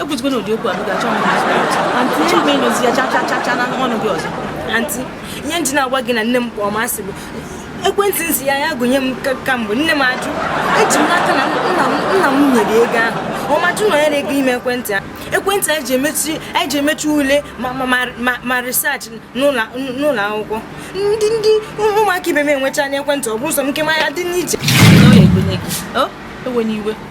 ekwuzikwana ụdị okwu a m ga-achọ m achọ m ịnụzi ya chachachacha na ọnụ gị ọzọ aunty ihe m ji na-agwa gị na nne m kpọọ m asị bụ ekwentị m sị ya ya gonye m kamgbe nne m ajụ eji m n'aka na nna m nwere ego ahụ ọ ma-ajụ na ya na-egonye m ekwentị a ekwentị anyị ji emechi anyị ji emechi ule ma research n'ụlọ akwụkwọ ndị ndị ụmụaka ibe m enwechaana ekwentị ọ bụrụ sọ m nke mụnwa dị iche enweghị iwe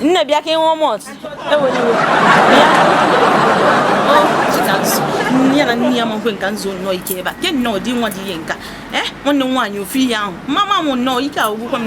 nne bịa ka ị ṅụọ malt ewela iwe bịa ya na nne ya ma-ekwe m ka m zuo nnọọ ike ebe a ke nnọọ ụdị nwa dị ihe nka ee eh, nwanne m nwaanyị ofu ihe ahụ mama m nnọọ ike agwụgwọ m